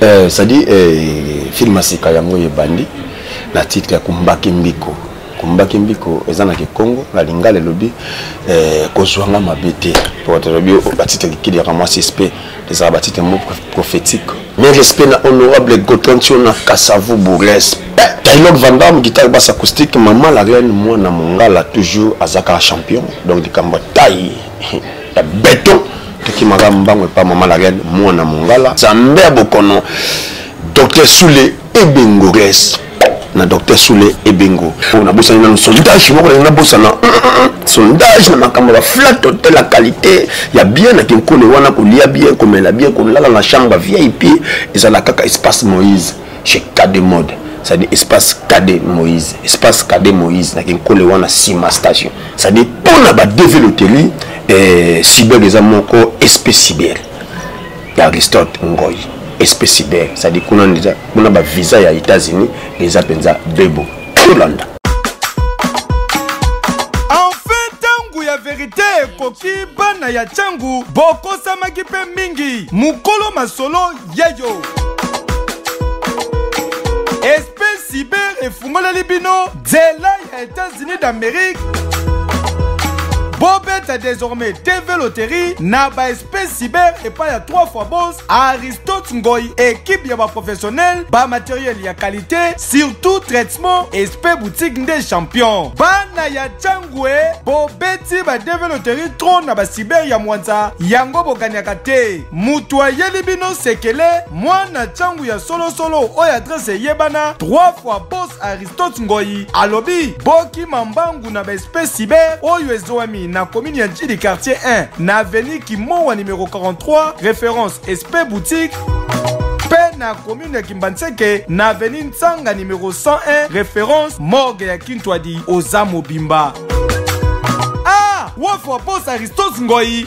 eh, sadi eh, film asika yango ebandi na titre ya kumbaki mbiko kumbaki mbiko eza na kikongo na lingala elobi eh, kozwanga mabe te lobi oh, batitre kikili yaka mwa sispe ezala batitre mo prophétique mais respect na honorable gotontion na kasavu bourles Taylor Van Damme, guitare basse acoustique, maman la reine, moi na mongala, toujours azaka champion. Donc, du combat taille. ya beton tokimaka mbango epa mama la reine mwana mongala nzambe ya bokono docteur sule ebengo res na docteur sule ebengo oyo nabosani nano sondage moko nalingi nabosana sondage na makambo ya baflat hotel ya qualité ya bien na kinkole wana kolia bien komela bien kolala na chambre vip ezala kaka espace moïse chez kade mode c'est-à-dire espace kade moïse espace kade moïse na kinkole wana sima station c'est-à-dire mpona badeve loteli eh, cyber eza moko espe cyber ya aristote ngoi espe cyber c'est-à-dire kuna ndeja kuna bavisa ya états-unis eza mpenza bebo tolanda enfin ntango ya verite ekoki bana ya ntango bokosamaki mpe mingi mokolo masolo yeyo esprit cyber efungoleli bino nzela ya etats-unis d'amérique bobeta désormais tv loterie na baesprit cyber epai ya 3 fois bos aristote ngoi ekipe ya baprofessionnel bamateriel ya qualité surtout traitement esprit boutique nde champion bana ya cangue bobeti badv loterie tro na bacyber ya mwanza yango bokaniaka te moto ayeli bino sekele mwana ntango ya solosolo oyo adrese eyebana 3 fois bos aristote ngoi alobi bokima mbangu na baespèce cyber oyo ezwami na komini ya ntili quartier 1 na aveni kimowa numero 43 référence espe boutique mpe na komine ya kimbanseke na aveni nsanga numero 101 référence morgue ya kintwadi oza mobimba ah, wofwa bos aristote ngoi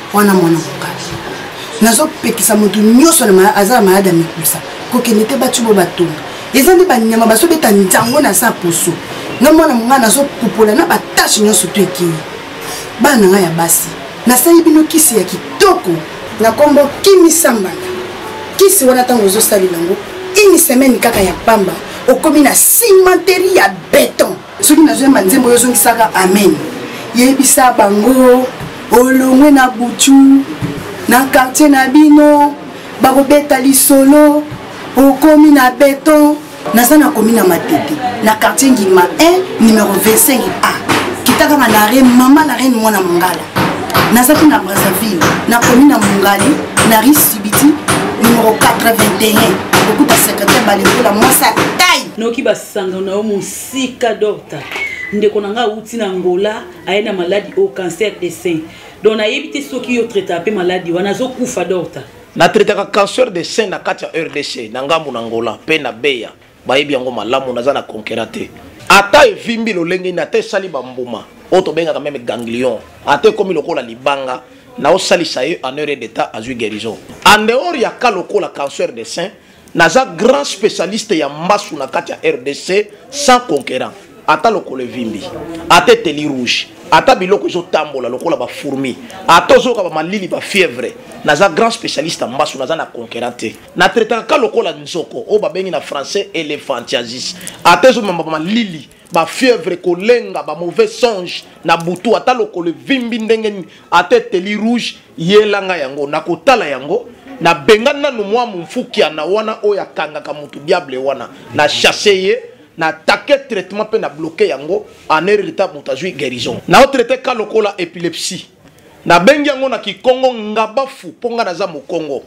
wana mwana mokali nazopekisa moto nyonso aza na maladi ya mikusa kokende te bati bo batonga eza nde banyama bazobeta nzango na sa poso na mwana mongai nazopupola na batashe nyonso to ekei bana na ngai ya basi nasali bino kisi ya kitoko na nkombo kimisambana kisi wana ntango ozosalela yango ini semaine kaka ya pamba okomi na cimenterie ya beton soki nazoyemba nzembo yozongisaka amen yebisa bango olongwe na butu na quartier na bino bakobeta lisolo okomi na beton naza nakomi na matete na quartier ngima 1 numero 25 a kita kaka na re mama la reine mwana mongala nazaki na brazzaville nakomi na mongali na ri sibiti numero 81 okuta secretaire balekola mwasi atai noki basangano na yo sika docta ndeko na ngai awuti na ngola aye na maladi oyo cancer de sein donc nayebi te soki yo traitaka mpe maladi wana azokufa docta natretaka cancer de sein na kati ya rdc na ngambo na ngola mpe na beya bayebi yango malamu naza na konkera te ata evimbi lolenge nini ata esali bambuma oyo tobengaka meme ganglion ata ekomi lokola libanga naosalisa ye en heure d'etat azwi guérison en dehors ya ka lokola cancer de sein Naza grand specialiste ya mbasu na kati ya RDC sans conquérant. Ata lokole vimbi, ata eteli rouge, ata biloko ezo tambola lokola ba fourmi, ata ozoka ba malili ba fièvre. Naza grand specialiste ya mbasu, naza na conquérant te. Na traitaka ka lokola nzoko, oyo babengi na français elephantiasis. Ata ezo mema ba malili, ba fièvre kolenga ba mauvais songe na butu ata lokolo evimbi ndenge nini ata eteli rouge yelanga yango nakotala yango nabenga nanu mwa momfukiana wana oyo akangaka motu diable wana na chasse ye na take traitement mpe na bloke yango en erreta moto azwi guérison naotraite ka lokola epilepsie nabengi yango na kikongo ngabafu mpo ngai naza mokongo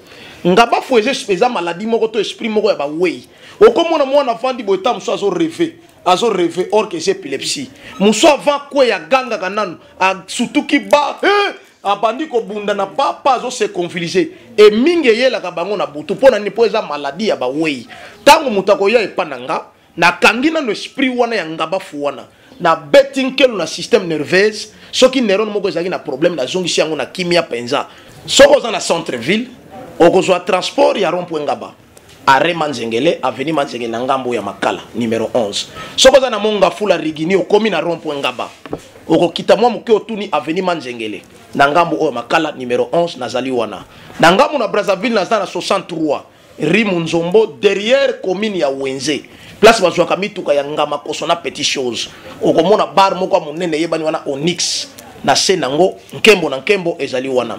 ngabafu eza maladi moko to esprit moko ya bawei okomona mwana afandi boye ta mosusu azo reve azo reve or que eza epilepsie mosu avant kweya agangaka nanu asutuki ba eh! abandi kobunda na papa azo se confilise e mingi eyelaka bango na butu mpo na nini mpo eza maladi ya bawei ntango moto akoya epa na nga nakangi nano esprit wana ya ngabafu wana nabeti nkelo na système nerveuse soki neurone moko ezalaki na problème nazongisi yango na kimia mpenza soki oza na centre ville okozwa transport ya rond point ngaba arrêt manzengele avenue manzengele na ngambo ya makala numero 11 soki oza na monga fula rigini okomi na rond point ngaba okokita mwa moke otuni avenue manzengele na ngambo oyo makala numero 11 nazali wana na ngambo na brazzaville naza na 63 rue munzombo derrière commune ya wenze place bazwaka mituka ya ngama koso na petit chose okomona bar moko ya monene eyebani wana onix na se nango nkembo na nkembo ezali wana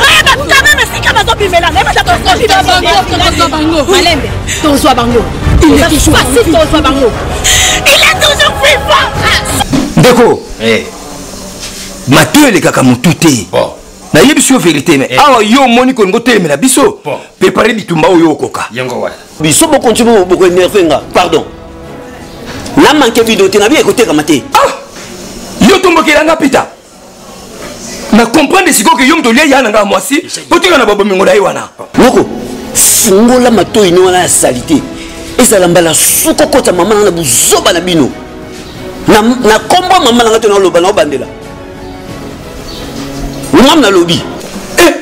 bayeba quand même esika bazobimela naye baza tozwa bango malembe tozwa bango facile tozwa bango il est toujours vivant ndeko eh. mato elekaka motu te nayebisi yo verité me eh. awa yo omoni kolingo telemela biso prepare bitumba oyo okoka biso bokonti bokoenerve nga pardon namanke bido te na biye ekotekama te ah! yo tombokela nga pita na comprendre sikoyo ke yo moto olia ya na ngai mwasi mpo tika na babomengo na ye wana noko fungola matoi no wana ya salite ezala mbala suka okota mama nanga na buzoba na bino na kombo ya mama nanga to naloba na obandela ngam nalobi eh,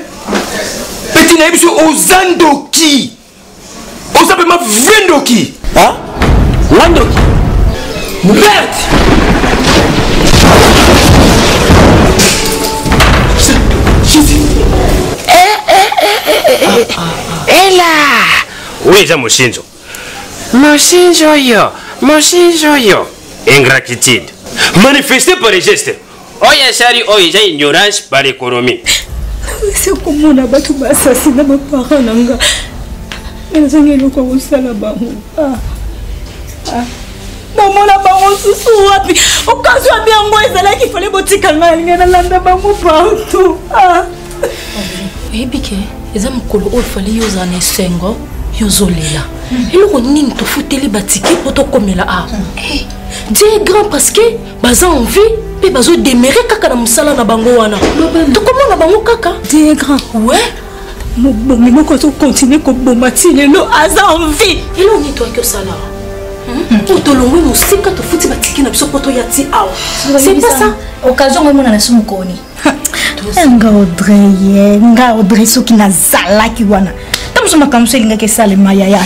peti na ye biso oza ndoki oza pema vrai ndoki nga ndoki merde ela oyo eza mosinzo mosinzo oyo mosinzo oyo ingratitude manifeste par geste oyo esali oyo eza ignorance par économie ese komona bato basasi na bapara na nga nazangi eloko ya kosala bango ah, ah. namona bango susu wapi okazwa bi yango ezalaki fale botika ngai alingai nalanda bango partout ah. oyebi ke eza mokolo oyo fali yo ozala na esengo yo ozolela hmm. eloko nini tofuteli batike mpo tokomela awa ah. hmm. eh, die grand parce que baza en vie mpe bazo demere kaka na mosala na bango wana tokomona bango kaka te grand we mobomi moko azokontinue koboma ti lelo aza en vie elo nini toyaki osala hmm? oyo tolongwe mosika tofuti batiki na biso mpo toya ti awa c'est pas ça occasion ngo emonana so mokoni eh, nga audrey eh, nga audrey soki nazalaki wana ta mosu makambo so elingaki esalema yaya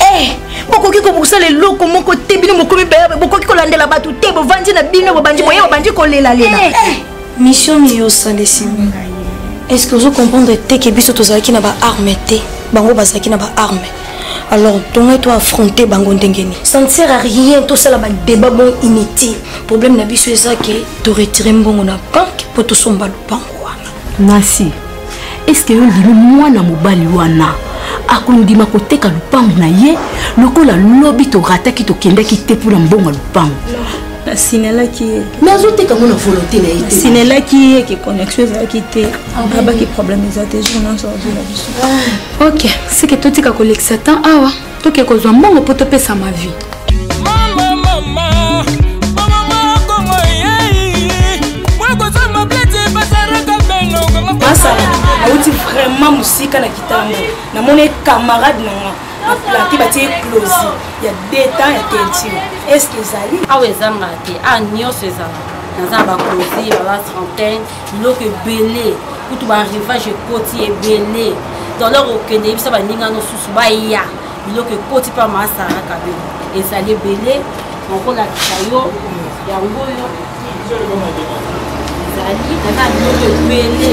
eh, bokoki kobosala eloko moko te bino bokomi bayabe bokoki kolandela bato te bovandi na bino bobandi boye bobandi kolelalela mission miyo osala esimbi ngai est ce que ozo comprendre te ke biso tozalaki na baarme te bango bazalaki na baarme alors tongai to affronter bango ndenge nini ça ne sert à rien tosala badébat bon inutile problème na biso eza ke toretire mbongo na banke mpo tosomba lopango wana nasi estce yo ndimi mwana mobali wana akondima koteka lopango na ye lokola lobi torataki tokendaki te mpo na mbongo ya lopango nasinelaki ye me azoteka ngo na volonté na ye te nasinelaki ye ke connexion ezalaki te abaki ah, problème eza te jour nyonso azwela biso ah. ok seke totika kolekisa temps awa toke kozwa mbongo mpo topesa ma vie masala auti vraiment mosika na kitambo namoni camarade na nga na plake batie eclosi ya deta ya teinture estce ezali awa ezangaka te a nyonso ezalaka naza na baclosi baba trentaine biloko ebele kutu baarrivage ekoti ebele dolor okende yebisa baninga nosusu baya biloko ekoti mpe maasara kabelo ezali ebele nakolakisa yo yango oyo ezali naza biloko ebele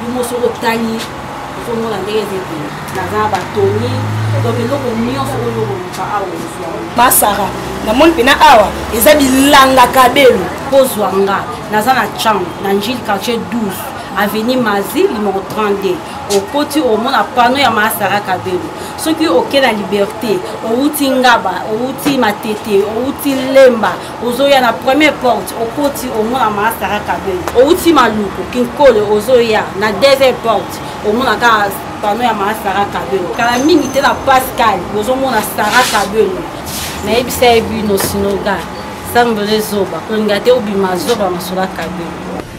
bimo soki otali ozomona ndenge ezete naza batoni donc eloko nyonso oyo okoluka awa ozwa masara namoni mpena awa eza bilanga kabelo kozwa nga naza na champ na njili quartier 12 avenue mazi limoko 32 okoti omona pano ya maasara kabelo soki oke na liberté owuti ngaba owuti matete owuti lemba ozoya na première porte okoti omona mama sara kabel outi maluku kinkolo ozoya na deuxième porte omona kaka pano ya mama sara kabel kala mingi te na pascal bozomona sara kabel nayebisa ye bino sinoga sambele zoba kolinga te obima zoba masola kabel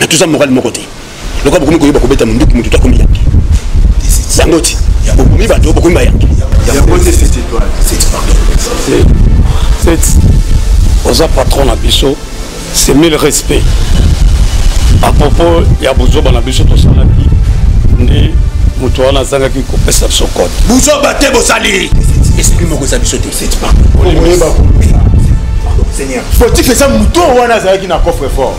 na toza morale moko te lokola bokomi koyeba kobeta monduki moto toakomi yanke yango ti bokomi bato bokomi bayanke oza patron na biso c'est mille respect à propos ya buzoba na biso tosalaki nde moto wana azangaki kopesa biso kode buzoba te bosali esprit moko eza biso te politique eza moto wana azalaki na coffre fort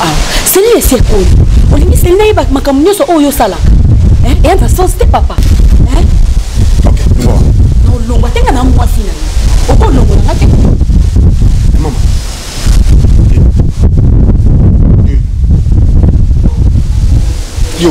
ah, selina esi ekoli olingi selina yeba makambo nyonso oyo osalaka eh, eya na sens te papa eh? olongwa te nga na mwasi na yo okolongola nga te yo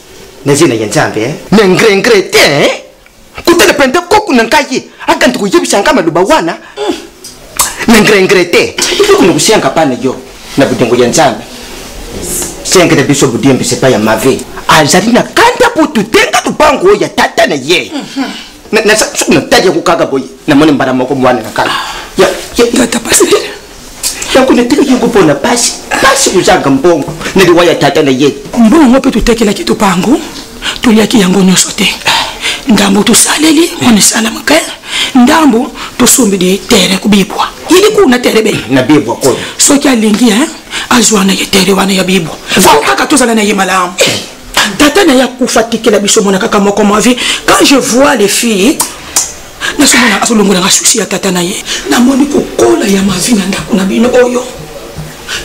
na zina ya nzambe eh? na ngrengre te eh? kutana pente koko na ngai akandi koyebisa ngai maloba wana na ngrengre te iloko na kosenga pa na yo na bolingo ya nzambe sengela biso bodiembisa epai ya mave azali na kanda mpo totenga lopango oyo ya tata na ye soki natali yango kaka boye namoni mbala moko mwana na kala yango natikaki yango mpo na pasi pasi kozanga mbongo na liwa ya tata na ye mbongo yango mpe totekelaki topango toliaki yango nyonso te ndambo tosaleli on esalamaka ndambo tosombeli tere kobibwa yeli kuna tere be na bibwa koyo soki alingi azwa na ye tere wana ya bibwa fo kaka tozala na ye malamu tata na ye akufa tikela biso mona kaka moko mavi quand je vois les filles nazomona azolongola nga susi ya tata na ye namoni kokola ya mavi na ndako na bino oyo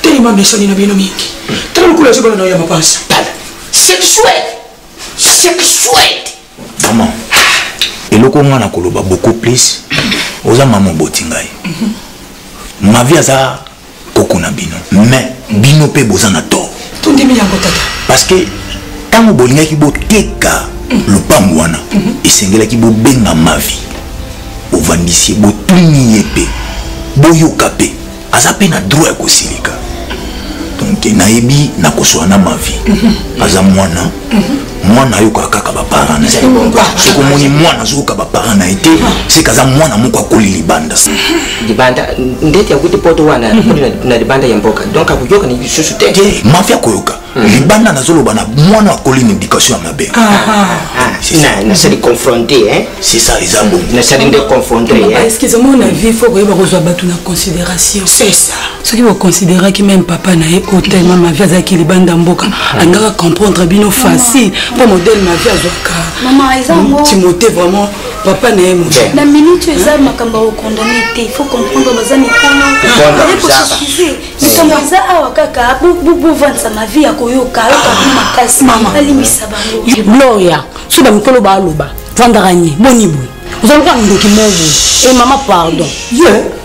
telema mesani na bino mingi tala lokola ezobana nayo ya mapasa tala sexuel sexuel mama eloko nga na koloba beaucoup plus oza mama oboti ngai mavi aza koko na bino mais bino mpe boza na tort tondimi yango tata parce que ntango bolingaki boteka lopango wana mhm. esengelaki bobenga mavi bovandisi ye botuni ye mpe boyoka mpe aza mpe na droit ya kosilika donc nayebi nakosola na mavi mhm. aza mwana mwana ayokaka kaka baparent na ye soki omoni mwana azoyoka baparent na ye te seke aza mwana moko akoli libanda libanda ndeti akuti poto wana na libanda ya mboka donc akoyoka na lisusu te mafi akoyoka hmm. libanda nazoloba na mwana akoli na éducation ya mabe nasali confronte c'est ça eza bongo nasali nde confronte excuse moi na vie fo koyeba kozwa bato na considération soki boconsideraki meme papa na ye otelema mavi azalaki libanda mboka alingaka comprendre bino facile mpo modele mavi azwaka timote vraiment papa na ye moto na minute oyo eza makambo ya kokondane te il faut comprendre baza mikolo ye kosusuze likambo eza awa kaka bovandisa mavi ya koyoka yoka bi makasi alimbisa bango gloria soki bamikolo baaloba vandaka nye boni boye ozalaka ndoki moko boye e mama pardon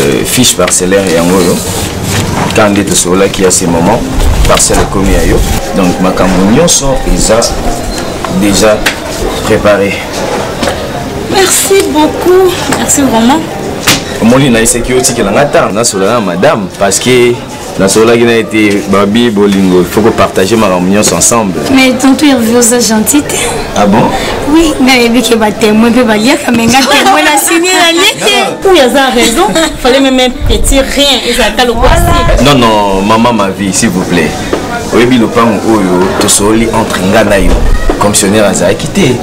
Euh, fiche parcellaire yango oyo ntango nde tosololaki ya ce moment parcelle ekomi ya yo donc makambo nyonso eza déjà préparé merci beaucoup merci vraiment omoni nayesaki otikela nga ntango nasola na madame parce que nasololaki na ye te babi bolingo faut kopartage makambo nyonso ensemble mais tonto herve oza gentil te ah bon oui nayebi ke batemoin mpe baliaka me nga temoin na sini nalie te oyo aza raison fallait meme petit rien ezalaka lokwasi non non maman ma vie s'il vous plaît oyebi lopango oyo tosololi entre nga na yo commissionnaire azalaki te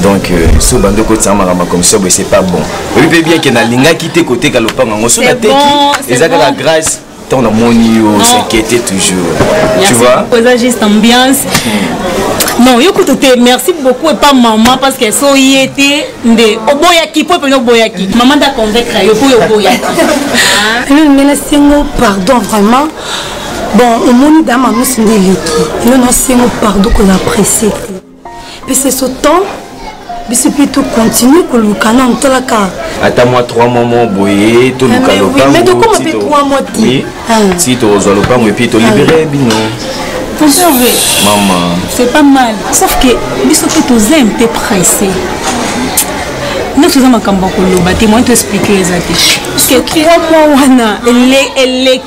donc euh, so bando kotisa makambo ya commission boye c'est pas bon oyebi mpe bien ke nalingaki te koteka lopango yango so nateki eza kaka grâce Tant la moni yo s'inquiéter toujours. Merci tu vois. Posa juste ambiance. Non, yo kutu te merci beaucoup et pas maman parce qu'elle so yete nde oboyaki po pe no boyaki. Maman da convaincre yo po yo boyaki. Ah. Non, mais la singo pardon vraiment. Bon, omoni dama musu nde leki. Yo na singo pardon ko la presser. mpe c'est ce temps biso mpe tocontinue koluka nano tolaka ata mwa 3 mois mo boye toluka ah, lopango ti ah. tozwa lopango epuis tolibere ah. bino mama c'est pas mal sauf que biso mpe toza un peu pressé nyonso eza makambo ya koloba te moyen to explike eza te parceke 3 mois wana eleki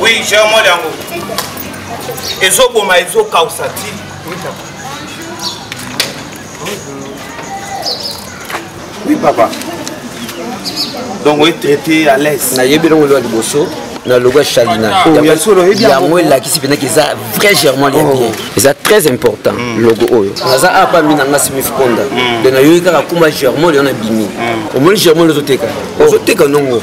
oui germol yango ezoboma ezokausa ti oui papa donc oetraité à l'aise nayebi elongo elwa liboso na logo ya chalina yango elakisi mpenaki eza vrai germant ya bien eza très important logo oyo naza apa mi na nga smith konda de nayoki kaka kuma germant leo na bimi omoni germant leo ozoteka ozoteka nongo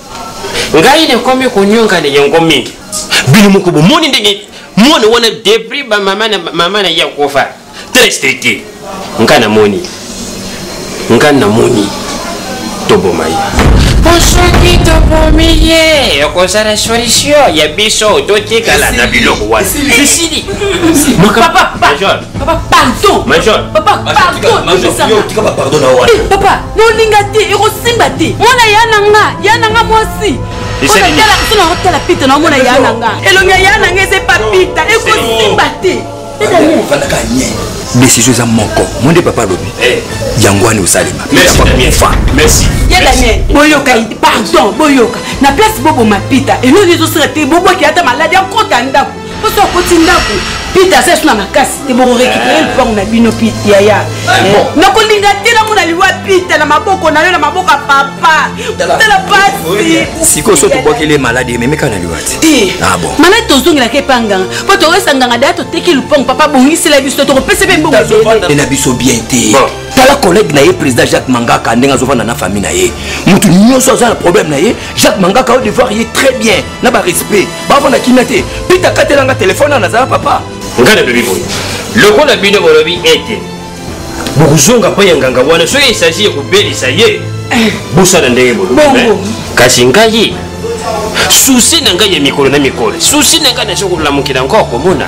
ngai nakomi konyonga na yango mingi bino moko bomoni ndenge mwana wana debris bamama na ye akofa très stricte ngai namoni ngai namoni toboma ye po soki tobomi ye okozala solution ya biso totikala na biloko wana esili papa pardon papa pardon papa bolinga te ekosimba te mwana ya na nga ya na nga mwasi otala pita na omona ya na nga elongi ya ya na nga eza epa pita ekosimba te décision eza moko mo nde papa alobi eh. yango wana osalema boyoka pardon boyoka na place boboma pita eloni ezosala te bobwaki ata maladi akota ndako poso akoti ndako pita aza esu na makasi te bokorekipere eh. lupango na bino yaya eh, eh. nakolinga te namona liwa pita na maboko na yo na maboko ya papa tala pasi sikoyo so tobwakeli maladi ememeka na liwa te ah, maladi tozongelaka epa nganga mpo toyesa nganga daya toteki lupango papa bongisela biso tokopesa mpe mbongo na biso bien te tala collègue na ye président jacques mangaka ndenge azovanda na famille na ye motu nyonso aza na problème na ye jacques mangaka odevoir ye très bien na ba respect bavanda kimia te pita katelanga telefone ana azala papa ngai nalobi boye lokola bino bolobi ete bokozonga mpo ya nganga wana soki esagi ya kobelisa ye bosala ndenge bolobi kasi ngai susi na ngai ya mikolo na mikolo susi na ngai nazo kolamukela nko komona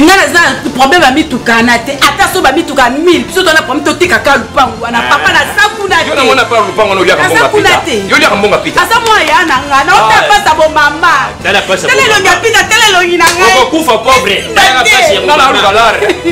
nga naza na problème ya mituka na te ata so bamituka 1000 biso tona problème totekaka lupangu wana eh. papa naza kuna teoliaka mbonga pita aza mwana ya na nga naota pasa bomama tala elongi ya pita tala elongi na ngaiokufa pauvre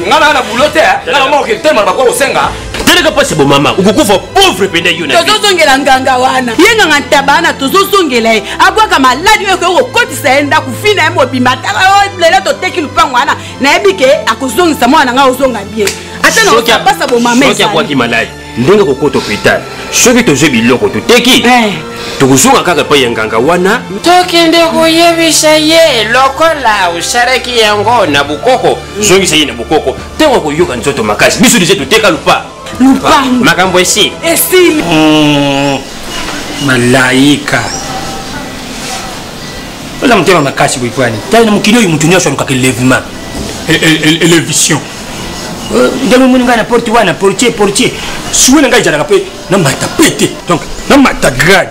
nga na na bulo te nga na moko kitema na bakokosenga talaka mpasi bomama okokufa pauvre mpenza yo tozozongela nganga wana ye nganga ntaba wana tozozongela ye abwaka maladi oyo ekoki kokotisa ye ndako fina ye mobima tala oh, lelo toteki lupango wana nayebi ke akozongisa mwana na ngai ozonga bien ata nakopasa bomama soki abwaki maladi ndenge kokota hopital soki tozwi biloko toteki eh. tokozonga kaka epai ya nganga wana tokende koyebisa ye lokola osalaki yango na bokoko zongisa ye na bokoko ntango akoyoka nzoto makasi biso deja toteka lupa lupangu makambo esi esili hmm, malaika oza motema makasi boye mpo yani tali na mokili oyo moto nyonso alukaka elevement elevision e, e, e, ndenge omoni ngai na porte wana portier portier suwe na ngai ezalaka mpe na mata mpe te donc na mata grade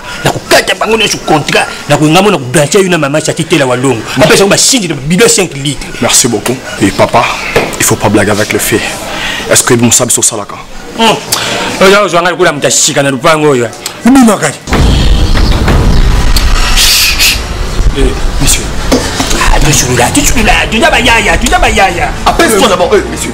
nakokata bango nyonso contrat nakoyinga mona koblanche yo na mama chati tela walongo apesa yango basingi na bido 5 litre merci beaucoup et papa il faut pas blague avec le fait est ce que mosala biso osalaka oza ozwa ngai lokola moto ya sika na lopango oyo obimakani monsieur tosulula tosulula toza bayaya toza bayaya apesi to d'abord monsieur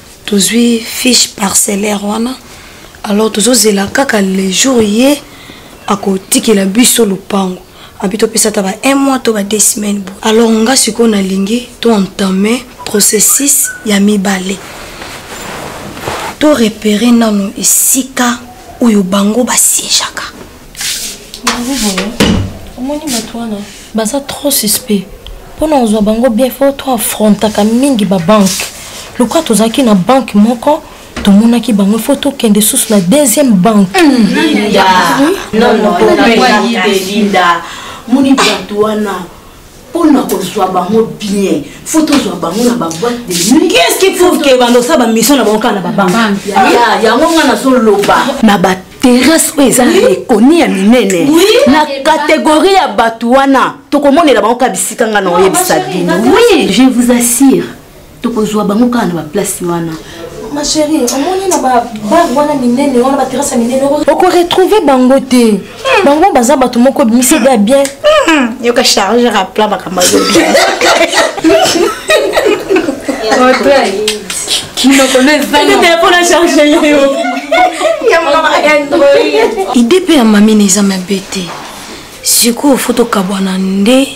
tozwi fiche parcellaire wana alors tozozela kaka le jour ye akotikela biso lopango abi topesa ata ba un mois to ba deux semaines bo alors nga sikoyo nalingi to entame processus ya mibale to repere nano esika oyo bango basiejaka yango boye omoni bato wana baza trop suspect mpo na kozwa bango bien fo to afrontaka mingi babanke lokola tozalaki na banke moko tomonaki bango fo tokende susu na deuxième banke moni bato wana pona kozwa bango bien faut tozwa bango na baboite de nuit qu'est-ce qui prouve que bando sa bamission na bango kaka na babanke yango nga nazoloba na baterrasse oyo eza ekoni ya minene na kategorie ya bato wana tokomonela bango kaka bisika nga na oyebisa bino oui je vous assure tokozwa bango kaka na baplace wana ma chérie omoni na babar wana minene wana baterasa minene okoretrouve bango te hmm. bango baza bato moko ebimisi ide ya bien hmm. yoka charge rapla makambo azo bien ide mpe ya mamina eza mabe te sikoyo fo tokabwana nde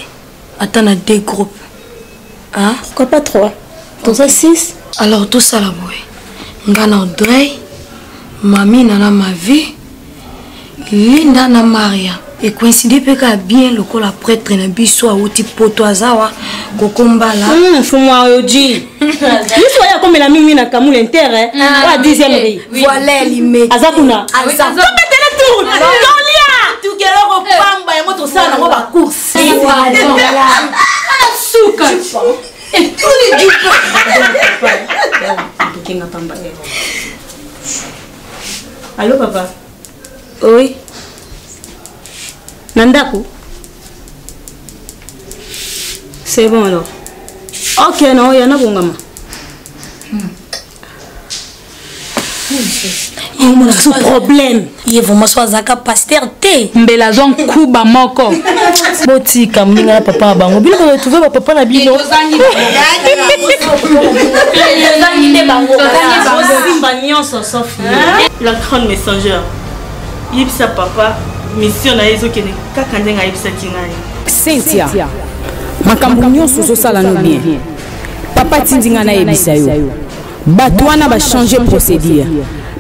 ata na deux groupe hein? pourquoi pas trois toza okay. six alors tosala boye nga na odrey mamina na mavi linda na maria ekoincide mpe kaka bien lokola pretre na biso awuti poto aza wa kokombala hmm, mfumu ayoji biso oyo akomela mingi na kamula intere ah, oya dixième rei voilà limete aza kuna tobetele tour tolia tukeloko pamba yango tosala nango bacourse suka etuli dukenga pamba alo papa oi na ndako c'est bon alors ok na oya nabongama yango problème ye vraiment so azalaka paster te mbela azwa nkuba moko botika moninga na papa na bango bino baretrouve bapapa na bino la grande messager yebisa papa mission na ye ezokende kaka ndenge ayebisaki ngai cynthia makambo nyonso ozosala no bien papa tindi ngai nayebisa yo bato wana bachange procédure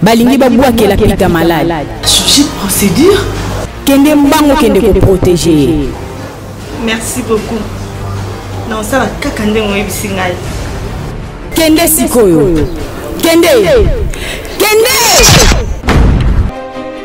balingi babwakela pita malade changer procédure kende mbango kende koprotege ye merci beaucoup na osala kaka ndenge oyebisi ngai kende sikoyo kende kende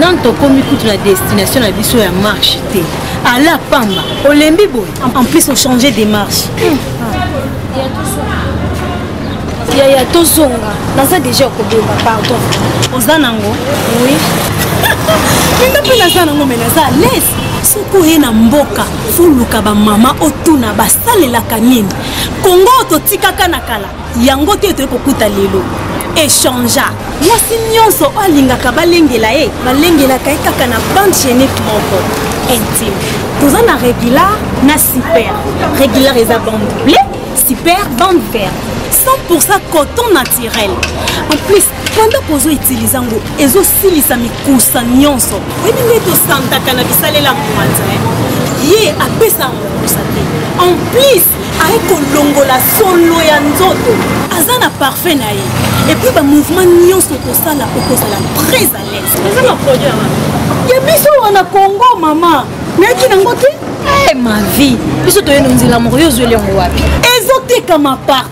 nanu tokomi kutu na destination na biso ya marche te ala pamba olembi boye en plus ochange de marche yaya tozonga naza deja okobeba pardon oza nango oui minga mpe naza nango me naza alaise soki oye na mboka foluka bamama otuna basalelaka nini kongo totikaka na kala yango te toyei kokuta lelo echangea mwasi nyonso oyo alingaka balengela ye balengelaka ye kaka na bande genique moko intime toza na regular na super regular eza bande ble super bande verte 100 coton naturel en plus pendant kozo utiliza yango ezosilisa mikusa nyonso oyebi nde tosantaka na bisalela mwanza ye apesaka mokusa te en plus aye kolongola solo ya nzoto aza na parfum na ye epuis bamouvement nyonso okosala okozala très à l'aise eza na produit ya biso wana congo mama nayaki nango te eh, ma vie biso toyeno nzela moko yo ozweli yango wapi ezotekama partout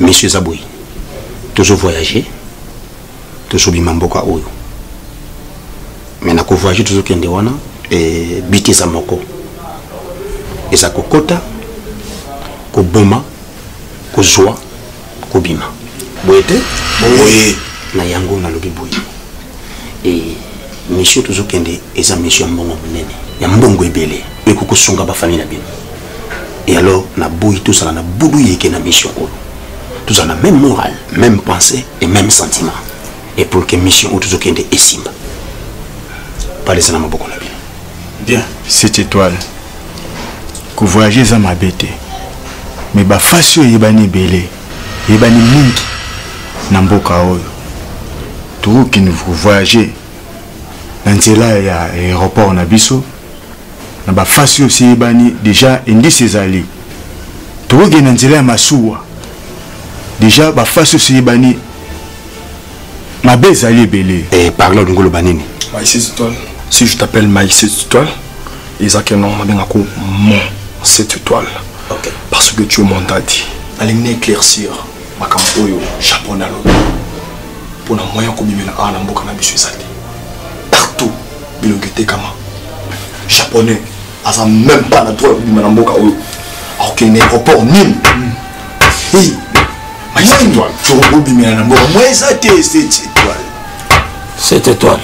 Monsieur eza boye tozo voyage tozobima mboka oyo me na kovoyage tozokende wana e, but eza moko eza kokota koboma kozwa kobima boye te boye na yango nalobi boye e, misio tozokende eza misio ya mbongo monene ya mbongo ebele ekokosunga bafamile na bino et alors na boyi tozala na budu yeke na mission oyo tozala na même morale même pensée et même sentiment et pour que mission oyo tozokende esimba palesa na maboko na bino bien cette étoile kovoyage eza mabe te me bafasi oyo eyebani ebele eyebani mingi na mboka oyo tokoki voyage na nzela ya aéroport na biso na bafasi oyo siyebani deja indice ezali tokokende na nzela ya masuwa deja bafasi oyo siyebani mabe ezali ebele eh, parle olingi oloba nini si je t'appelle maï cette étoile ezalaki nongo nabengako mon cette étoile okay. parce que tu es mon dadi nalingi na éclaircir makambo oyo japon alobi mpo na moyen ya kobimela awa na mboka na biso ezali partout bilongi etekama japonais aza même pas na droit ya kobima na mboka oyo akokende na aéroport nini tokobimela na mboka mwa eza te cette étoile cette étoile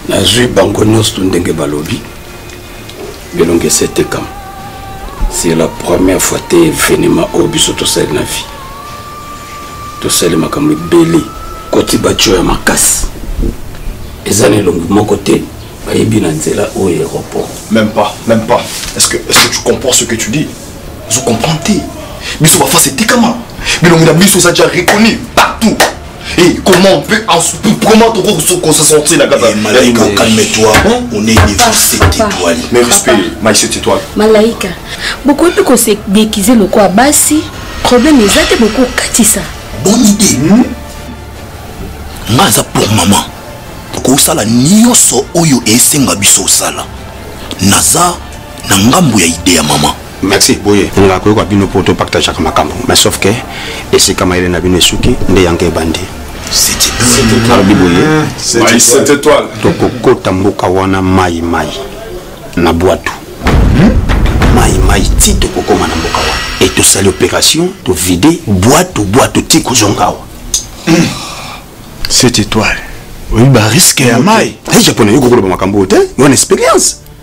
nazwi bango nyonso ndenge balobi bilongi esetekama c'est la première fois te événement oyo biso tosali na vie tosali makambo ebele koti batio ya makasi eza na elongi moko te bayebi na nzela oyo aéroport même pas même pas est ce que, est ce que tu comprends ce que tu dis ozo comprendre te biso bafasi etikama bilongi na biso eza déjà reconnu partout Et comment on peut, comment on peut se sentir la cata Malaika, calme-toi, hein? on est défoncé, tais-toi. Mais respect, Maïs, tais-toi. Malaika, beaucoup de qu'on s'est déguisé le quoi, bassi, problème les autres, beaucoup katissa. Bonne idée. Hmm? Maza pour maman. kosala nyonso oyo esenga biso osala naza na ngambo ya ide ya mama Merci boye nga koyoka bino po to partageaka makambo mais sauf que esika mayele na bino esuki nde yango ebandi alobi boye tokokota mboka wana mai mai na bwatu mai mai ti tokokoma na mboka wana e tosali opération tovide bwatu bwatu ti kozonga awa cette étoile oyebi bariske ya mai japonais yokokoloba makambo oyo te wana expérience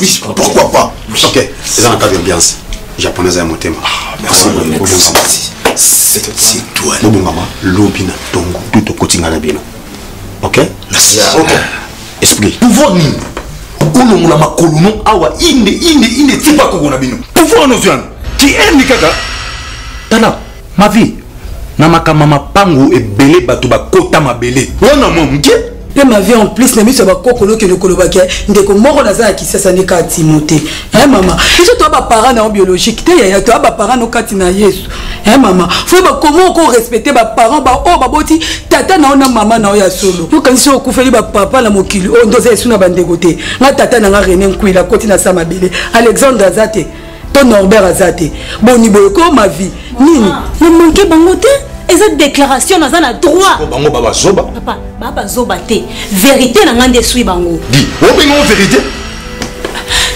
Oui, pourquoi pas Ok, c'est dans le cadre d'ambiance. Japonais à motema. Ah, merci beaucoup. C'est toi. Bobo maman, lobi na tongo, tout au quotidien na bino. Ok Merci. Ok. Esprit. Pouvoir nini olongola makolo no awa inde inde inde tipa kokona bino pouvoir noziano ki ende kaka tala ma vie na makambo ya mapango ebele bato bakota mabele wana mwa moke mpe ma vie en plus na miso ya bakokolo okende kolobaki ndeko moko naza na kisasa nde kaka timote e mama biso toya baparent na yo biologique te yaya toya baparent no kati na yesu e mama fo bakoma oko respecte baparent baoyo baboti tata na yo na mama na yo ya solo yokanisi okufeli bapapa na mokili oyo nde oza esu na bandeko te nga tata na nga rene nkwila akoti na sa mabele alexandre aza te to norbert aza te boni boye ko ma vie nini ah. na manke bango te eza déclaration naza na droit bango babazoba papa babazoba te vérité na ngai nde eswi bango di obenga o vérité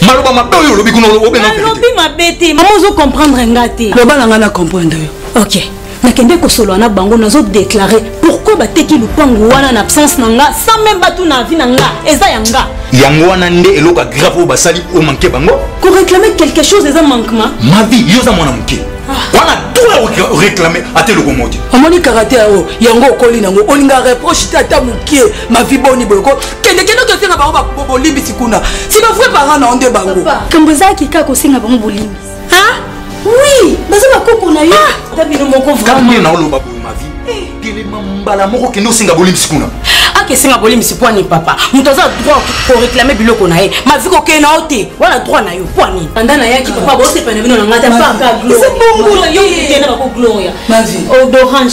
maloba mabe oyo olobi kuna obenga alobi mabe te mama ozo comprendre nga te loba na ngai na comprendre yo ok nakende kosolola na bango nazo déclare pourquoi bateki lupangu wana na absence na nga sans même batuna avi na nga eza ya nga yango wana nde eloko ya grave oyo basali omanke bango koreclame quelque chose eza manquement mavi yo oza mwana moke ah. wana droit oreclame ata eloko moko te omoni karate yango yango okoli nango olinga reproche te ata moke mavi boni boyoko kendekende okesenga bango bolimbisi kuna si bavrai parent na yo nde bango kambo ezalaki kaka kosenga bango bolimbisi ah oui baza bakoko na yo ah! ta bino moko vraiment na oloba boye ma vie eh. telema mbala moko kende osenga bolimisi kuna akesenga bolimisi mpo nini papa moto aza droit koreklame biloko na ye mavi kokei na yo te wana droit na yo mpo nini anda nayaki papa bosepana bino na ngata mpakaodorange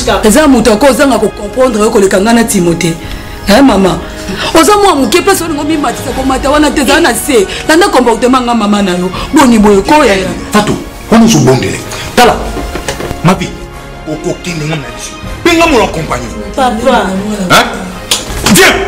kaka eza moto ako ozanga kokomprendre yo koleka ngai na timote eh mama oza mwa moke mpe solingo mimatisa komata wana te ezala na se landa comportement nga mama na yo boni boye koya ya fato wana ozobondele tala mapi okokende nga na liso mpe nga mola kompagnie papa viens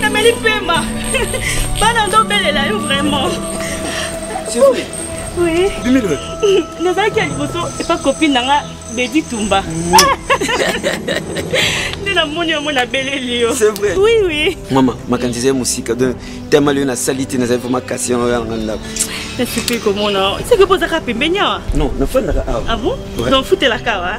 nameli pema bana ndobelela yo vraiment nazalaki ya liboso epa kopine na nga bedi tumba nde namoni yango nabeleli yo oui oui mama makanisi ezali mosika don tema lio nasali te nazali vraimen kasi yango yanga ndako nasepeli komona seke bozaka pembeni awa non nafandaka awa ah bon donc futelaka awa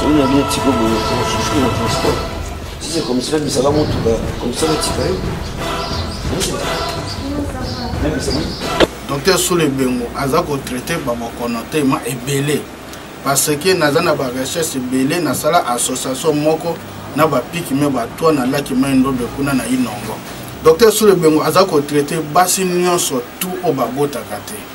Soni ya bien tiko boye osusuki na transport sisi komisila bisaka motuka komisala tika ye docteur solo ebengo aza kotraite babokono tema ebele parce que naza na barecherche ebele nasala association moko na bapiki me batwa na laki mai ndobe kuna na inongo docteur solo ebengo aza kotraite basi nyonso tu oyo babotaka te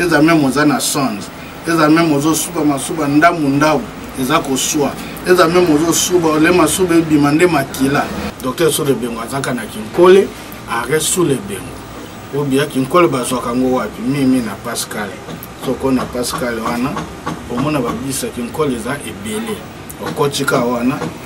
eza meme oza na songe eza meme ozosuba masuba ndambu ndambu eza koswa eza meme ozosuba ole masuba ebima nde makila docteur sous lebengo azaka na kinkole arret sous lebengo obia kinkole bazwaka yango wapi mimi na pascal soko na pascal wana omona babisa kinkole eza ebele okotika wana